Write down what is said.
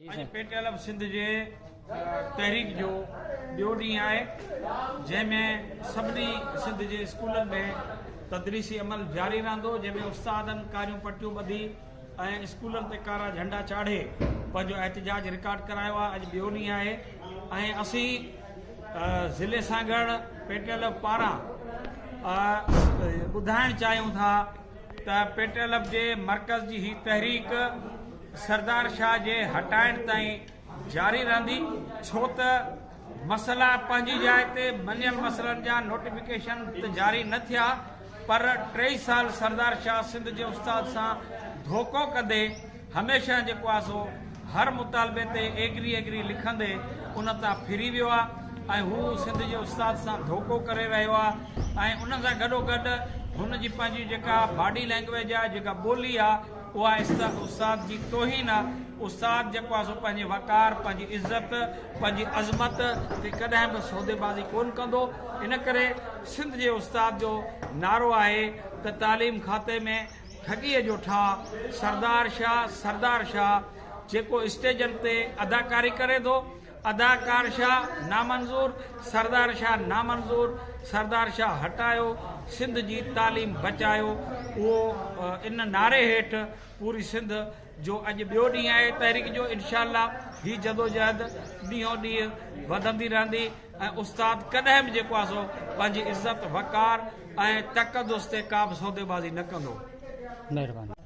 اڄ P T L Sindh جي تحريڪ جو ٻيو ڏينهن آهي جنهن ۾ سڀني سنڌ جي اسڪولن ۾ تدريسي عمل جاري رهندو جنهن ۾ استادن ڪاريون پٽيون ٻڌي ۽ اسڪولن تي ڪارا جهنڊا چاڙهي پنهنجو احتجاج رڪارڊ ڪرايو آهي اڄ ٻيو ڏينهن آهي ۽ اسين ضلعي سانگهڙ پي ٽي ايل پاران ٻڌائڻ چاهيون ٿا ته پي ٽي ايل جي مرڪز جي هي تحريڪ سردار شاهه جي هٽائڻ تائين جاري رهندي ڇو ته مسئلا پنهنجي جاء تي مڃيل مسئلن جا نوٽيفڪيشن ته جاري نه ٿيا پر ٽئي سال سردار شاهه سنڌ جي استاد سان ڌوڪو ڪندي هميشه جيڪو آ سو هر مطالبي تي ايگري ايگري لکندي ان تان ڦري ويو آ ۽ هو سنڌ جي استاد سان ڌوڪو ڪري رهيو آ ۽ ان سان گڏو گڏ هن جي پنهنجي جيڪا باڊي لينگويج آ جيڪا ٻولي آ اها استاد جي توهين آ. استاد جيڪو آ سو پنهنجي وقار، پنهنجي عزت، پنهنجي عظمت تي ڪڏهن به سوديبازي ڪونه ڪندو. ان ڪري سنڌ جي استاد جو نعرو آهي ته تعليم کاتي ۾ ٺڳيء جو ٺاهه، سردار شاهه، سردار شاهه، جيڪو اسٽيجن تي اداڪاري ڪري ٿو، اداڪار شاھ نامنظور، سردار شاھ نامنظور، سردار شاھ ھٽايو، سنڌ جي تعليم بچايو اھو ان نعري ھيٺ پوري سنڌ جو اڄ ٻيو ڏينھن آھي تحريڪ جو انشاء الله ھي جدوجهد ڏينھون ڏينھن وڌندي رھندي ۽ استاد ڪڏھن به جيڪو آھي سو پنھنجي عزت وقار ۽ تقدس تي ڪابه سوديبازي نه ڪندو. مھرباني.